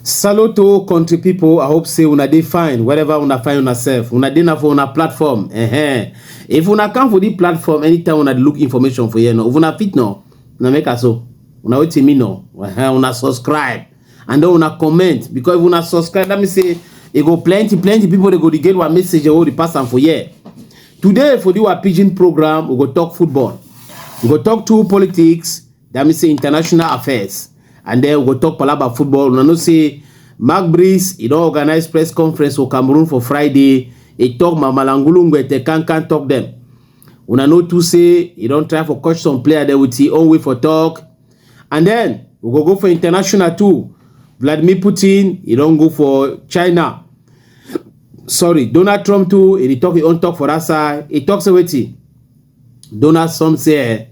salute to country people. i hope say una dey fine wherever una find una sef una dey na for una platform uh -huh. if una come for this platform anytime una look information for here no if una fit no una make am so una wetin me no uh -huh. una subscribe and then una comment because if una subscribe that means say e go plenty plenty people dey go dey get one message wey dey pass am for here today for the our pidgin program we go talk football we go talk two politics that means say international affairs and then we go talk palaba football una know say mark breeze e don organize press conference for cameroon for friday e talk mamalangulu ngwete kankan talk dem una know too say e don try for catch some player there with e own way for talk And then we go go for international too. Vladimir Putin, he don't go for China. Sorry, Donald Trump too, he talk he own talk for that side. He talks about it. Donald Trump say,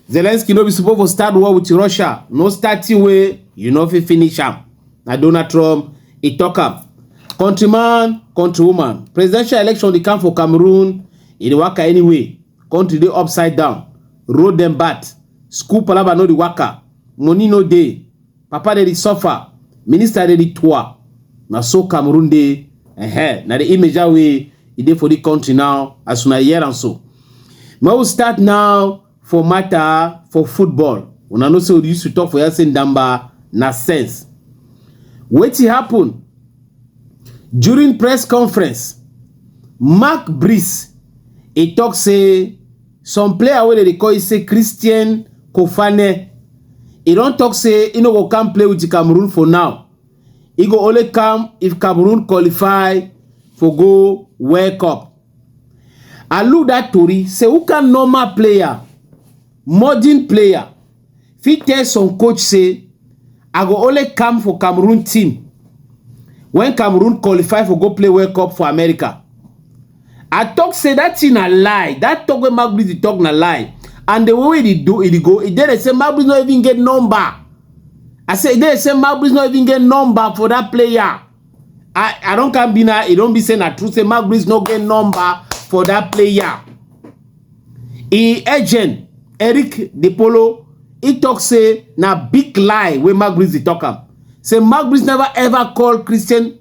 Zelensky no be supposed to start war with Russia. No starting way, you know if he finish am. Na Donald Trump, he talk am. Countryman, countrywoman, presidential election dey come for Cameroon, e dey waka anyway. country dey upside down road dem bad school palava no dey waka money no dey papa dey dey suffer minister dey dey tour na so cameroon dey uh-huh. na the image that way e dey for the country now as una hear am so ma we start now for matter for football una know say we used to talk for here say ndamba na sense wetin happen During press conference, Mark Brees e talk say some player wey dem dey call say Christian Kofane, e don talk say e no go come play with Cameroon for now, e go only come if Cameroon qualify for go World Cup. I look that tori say who kind normal player, modern player, fit tell some coach say i go only come for cameroon team when cameroon qualify for go play world cup for america i talk say that thing na lie that talk wey magbis dey talk na lie and the way they do it go e dey say magbis no even get number i say e dey say magbis no even get number for that player i i don come be now e don be say na true say magbis no get number for that player im agent eric dipolo e tok say na big lie wey maguire dey tok am say maguire neva ever call christian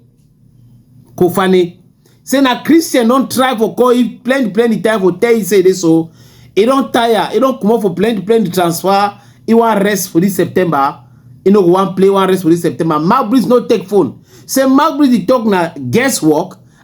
koufané say na christian don try to call am plenti plenti times to tell am say e dey so e don taya e don comot for plenti plenti transfer e wan rest for dis september e no go wan play e wan rest for dis september maguire no take phone say maguire dey tok na guess work.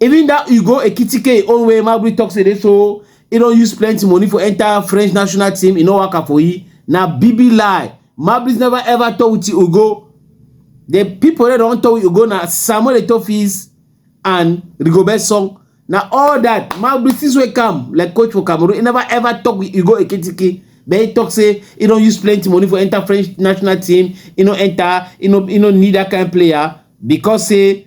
Even dat Ugo Ekitike e own wey Gnabry talk say dey so e don use plenty money for enter French national team, e no work out for e, na big big lie. Gnabry never ever talk with Ugo. The people wey don talk with Ugo na Samuel Eto'o fees and Rigobert Song. Na all that Gnabry since wey come like coach for Cameroon, e never ever talk with Ugo Ekitike. But he talk say e don use plenty money for enter French national team, e no enter, e no, e no need that kind player because say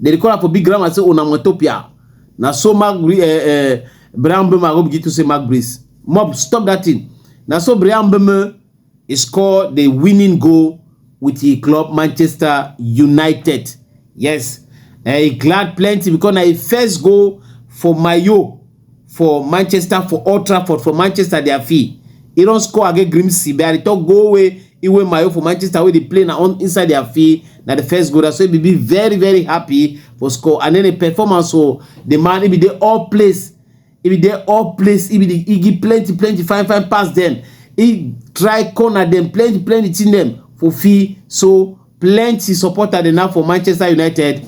Nilikuwa hapo big grammar sasa una mwetopia. Na so mag eh, eh, Brian Bema go begin to say mag breeze. Mob stop that thing. Na so Brian Bema he score the winning goal with the club Manchester United. Yes. Eh, he glad plenty because na his first goal for Mayo. for manchester for old trafford for manchester dia fee e don score against grimsby i dey tok goal wey iwe mayo for manchester wey dey play na on inside dia fee na di first goal so e be very very happy for score and then di performance for di man e be dey all place e be dey all place e be dey e give plenty plenty fine fine pass dem e try corner dem plenty plenty thing dem for fee so plenty supporter dey now for manchester united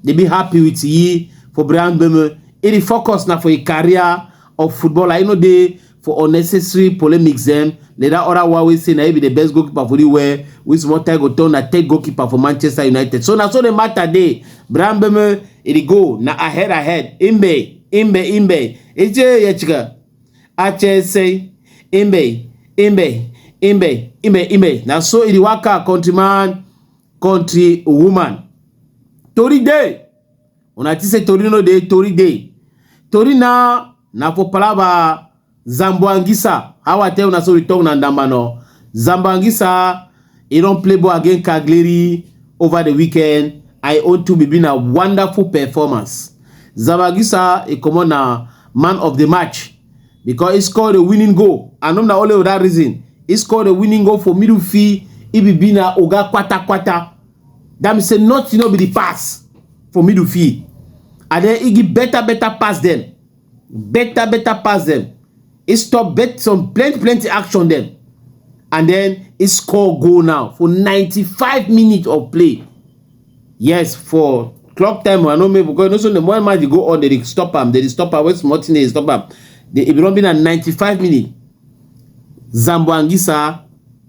dey be happy with yi for brian beme e dey focus na for a career of footballer e no dey for unnecessary polemics dem na that other one wey say na e be the best goalkeeper for the world wey small time go turn na third goalkeeper for manchester united so na so the matter dey brian beme e dey go na ahead ahead imbe imbe imbe eje yechika ache say imbe imbe imbe imbe imbe na so e dey waka country man country woman tori dey una think say tori no dey tori dey tori na na for palava zamboangisa how i tell una so we talk na ndamba no zamboangisa He don play ball against Cagliari over the weekend and e own too be na wonderful performance. Zamagusa e comot na man of the match because he score the winning goal and not na only for that reason he score the winning goal for middle field he be be na oga kwata kwata that means say nothing no be the pass for middle field and then he give better better pass them. better better pass dem, he stop bet some plenty plenty action dem and then he score goal now for 95 minutes of play. Yes, for clock time I no make because you know so the more match dey go on, they dey stop am, they dey stop am, when small thing dey stop am. The, it belong be na 95 minutes. Zambo Anguissa,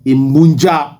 Imbunja,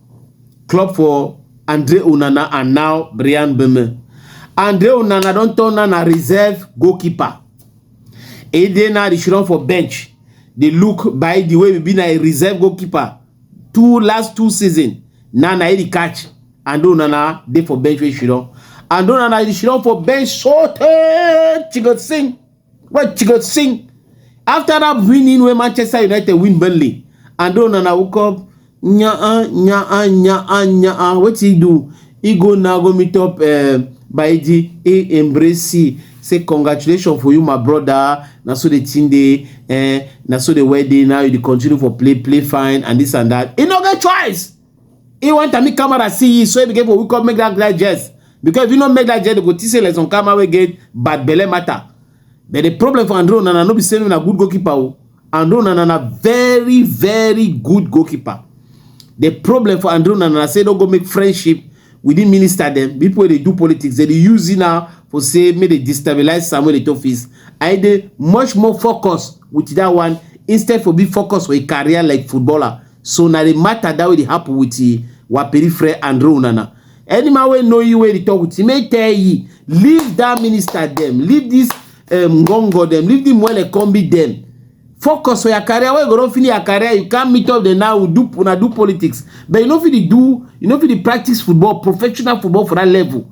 club for Andre Onana and now Brian Beme. Andre Onana don turn on a reserve goalkeeper. He dey now dey run for bench. They look by the way we been a reserve goalkeeper two last two season. Now na he catch Andre Onana dey for bench wey she run. Andre Onana dey run for bench so tey she go sing. What you go sing? After that winning when Manchester United win Burnley, and don't Onana woke up, nya uh, nya uh, nya uh, nya uh. What he do? He go now go meet up uh, by the he embrace he. Say congratulations for you, my brother. Now so the team day, eh, now so the wedding. Now you continue for play, play fine, and this and that. He no get choice. He want to make camera see you, so he became we come make that guy jest. Because if you don't make that jest, they go teach you lesson camera we get bad belly matter. But the problem for Andrew Nana, no be saying a good goalkeeper. Oh. Andrew Nana, very, very good goalkeeper. The problem for Andrew Nana, say don't go make friendship with the minister them. People they do politics, they, they use it now for say make they destabilize Samuel Etofis. I they much more focus with that one instead for be focused for a career like footballer. so na the matter that wey dey happen with the waperifre and ronana any man wey know you wey dey talk with you make tell you leave that minister dem leave this um, ngongo dem leave the mwele combi dem focus for your career wey go don finish your career you can meet up dem now do una do politics but you no fit dey do you no fit dey practice football professional football for that level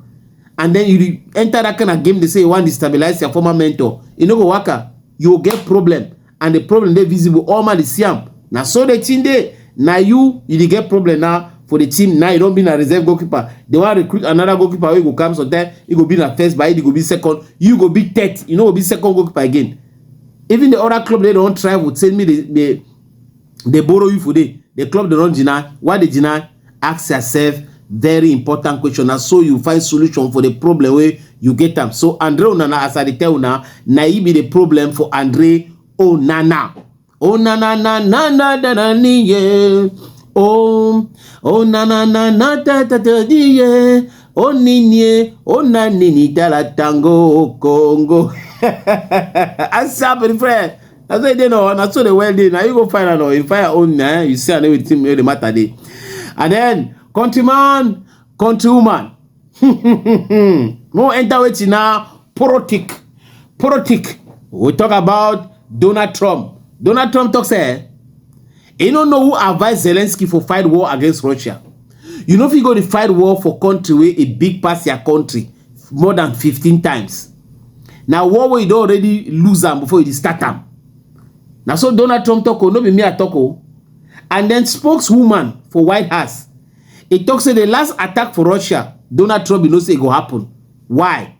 and then you enter that kind of game dey say you wan destabilize your former mentor e no go work out you go get problem and the problem dey visible all man dey see am na so the thing dey na you you dey get problem now for the team now you don be na reserve goalkeeper they wan recruit another goalkeeper wey go come sometime he go be na first but he go be second you go be third you no go be second goalkeeper again even the other club dey don try with say me dey dey borrow you for there the club dey run jina why dey jina ask yourself very important question na so you find solution for the problem wey you get am so andre onana as i dey tell una na e be the problem for andre onana onana na na na na na niye oh onana na na ta ta ta niye oninie onanini dala tango kongo asa bere friend na so e dey no na so the well dey na you go find am no you find your own na you see am no wetin the matter dey and then countryman countrywoman no enter wetin na politic politic we talk about donald trump donald trump talk say You no know who advise Zelensky for fight war against Russia. You no fit go to fight war for country where a big pass your country more than 15 times. Now war where you don't already lose them before you start them. Now so Donald Trump talk, oh, no be me I talk. Oh. And then spokeswoman for White House, it talks say the last attack for Russia, Donald Trump, you know say it go happen. Why?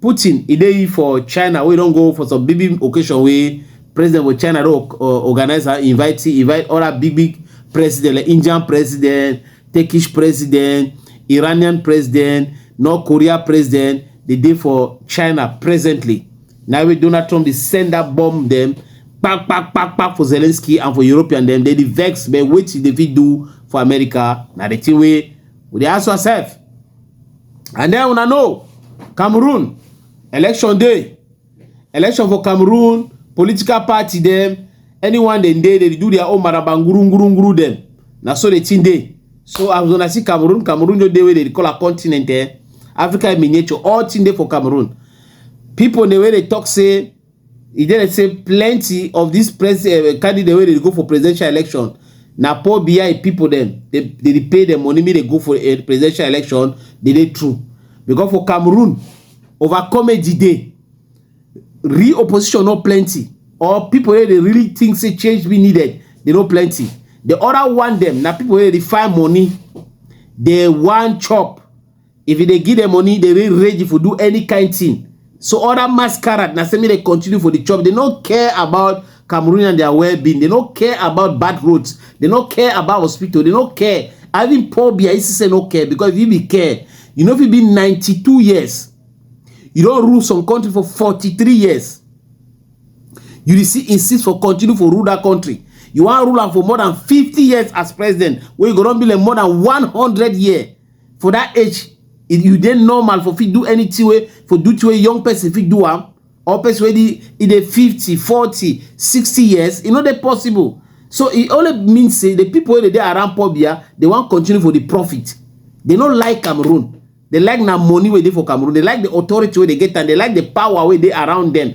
Putin, e dey for China wey don go for some big big occasion wey president for China don uh, organize and invite invite other big big president like Indian president, Turkish president, Iranian president, North Korea president. They dey for China presently. Now wey Donald Trump dey send that bomb them pack pack pack pack for Zelensky and for European them. They dey vex but wetin they fit do for America na the thing wey we dey ask ourselves. And then una know Cameroon election day, election for Cameroon, political party them, anyone they dey, they do their own marabanguru nguru nguru them. Now so the thing day. So as when I see Cameroon, Cameroon no dey where they call a continent eh. Africa in miniature, all thing dey for Cameroon. People the way they talk say e dey say plenty of dis eh, candidate wey dey go for presidential election na poor bi pipo dem dey pay dem money make dem go for eh, presidential election dey dey true because for cameroon over comedy dey real opposition no plenty or pipo wey dey really think say change be needed dey no plenty di oda one dem na pipo wey dey find money dey wan chop If you dey give them money, they will rage if you do any kind thing. So all that masquerade, now say me they continue for the job. They don't care about Cameroon and their well-being. They don't care about bad roads. They don't care about hospital. They don't care. Having poor beer, you say no care because if you be care, you know if you be 92 years, you don't rule some country for 43 years. You dey see insist for continue for rule that country. You wan rule am for more than 50 years as president, wey you go don be like more than 100 years. for that age if you dey normal for fit do anything wey for do to a young person fit do am or person wey dey e dey 50 40 60 years e no dey possible so e only mean say the people wey dey dey around pobia dey wan continue for the profit they no like cameroon they like na money wey dey for cameroon they like the authority wey dey get and they like the power wey dey around them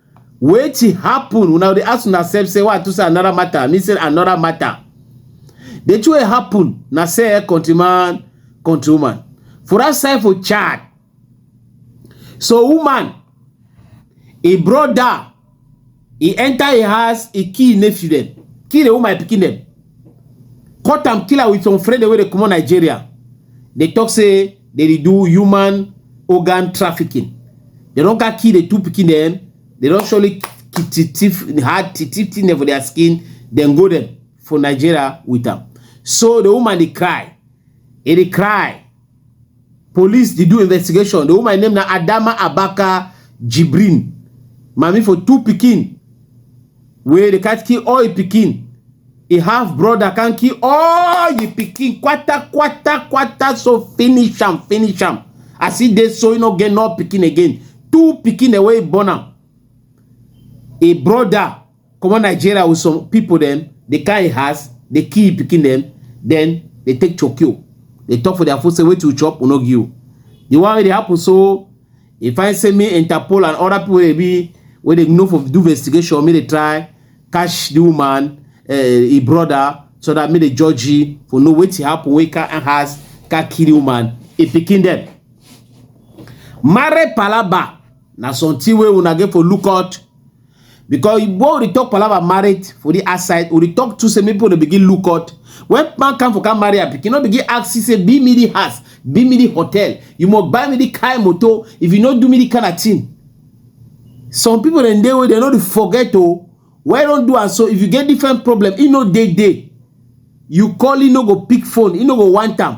wetin happen una dey ask una sef say why to say another matter me say another matter the two wey happen na say eh, countryman countrywoman for that side for chad so woman a brother he enter a house he kill nephew them kill the woman pikin them cut am kill am with some friend wey dey comot nigeria dey talk say they dey do human organ trafficking they don ka kill the two pikin dem they don surely ki- ti- thief hard ti- thief thing dem for their skin dem go dem for nigeria with am so the woman dey cry e dey cry police dey do investigation the woman name na adama abaka jibrin mami for two pikin wey dey cat kill all im pikin e half brother can kill all im pikin kwata kwata kwata so finish am finish am as e dey so e no get no pikin again two pikin wey e born am e brother comot nigeria with some people dem dey carry house dey kill im pikin dem then dey take chokio dey talk for their food say wetin you chop we no give you the one wey dey happen so e find say me interpol and other people wey be wey dey know for do investigation make dey try catch the woman uh, eh, im brother so that make dey judge you for know wetin happen wey can house can kill the woman im pikin dem marry palaba na something wey una get for look out because igbo we talk palava marriage for the outside we talk to say make people begin look out when man come for come marry her pikin no begin ask see say be me the house be me the hotel you must buy me the car motor if you no do me the kind of thing some people dem dey wey dem no dey forget o why don do am so if you get different problem e no dey dey you call e no go pick phone e no go want am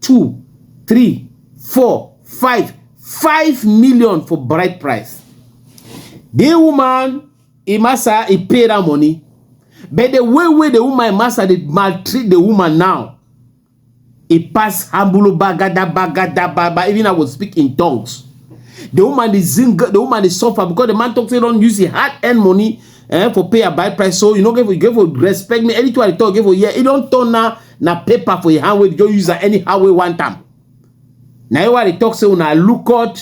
two three four five five million for bride price the woman e master e pay that money but the way wey the woman master dey maltreat the woman now e pass hambulu bagada bagada baba even i go speak in tongues the woman dey zing the woman dey suffer because the man talk say don use him hard earned money eh, for pay a buy price so you no get for you get for respect me anything i talk get for yeah e don turn na na paper for your hand wey just use am anyhow wey want am na you why they talk say una look out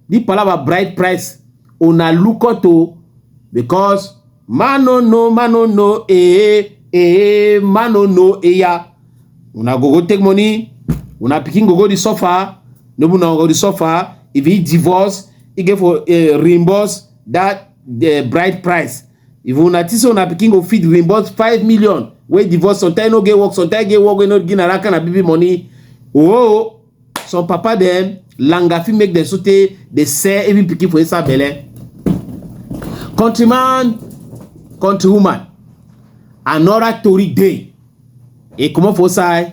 the palava bright price una look out o because man no know man no know eh eh man no know eya una go go take money una pikin go go dey suffer no be una go dey suffer if he divorce he get for uh, reimburse that uh, bride price If una think say una pikin go fit reimburse five million wey divorce sometimes no get work sometimes get work wey no give na that kind of baby money oh some papa dem langa fit make dem so tey dey sell even pikin for inside belle countryman countrywoman another tori dey e comot for inside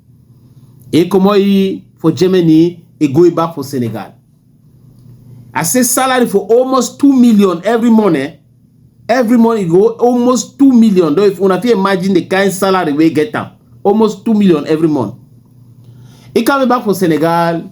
e comot e for germany e go e back for senegal i say salary for almost two million every month eh every month e go almost two million though if una fit imagine the kind salary wey get am almost two million every month e come e back for senegal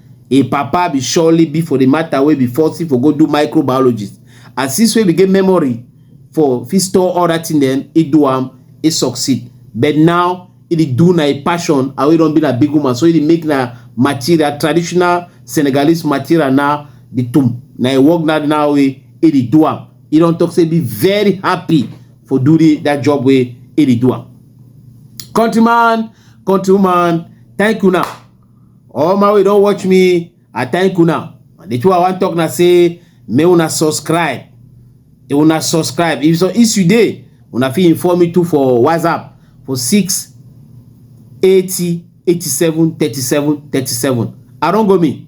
Im papa be surely be for the matter wey be forcing for go do microbiologist and since wey be get memory for fit store all that thing dem he do am he succeed but now he dey do na a passion and wey don be na big woman so he dey make na material traditional Senegalese material na the tomb na a work na now wey he dey do am he don talk say be very happy for do the, that job wey he dey do am countryman countrywoman thank you now. all my wey don watch me i thank una the two i wan talk na say make una subscribe if una subscribe if so if you dey una fit inform me too for whatsapp for six eighty eighty seven thirty seven thirty seven i don go me.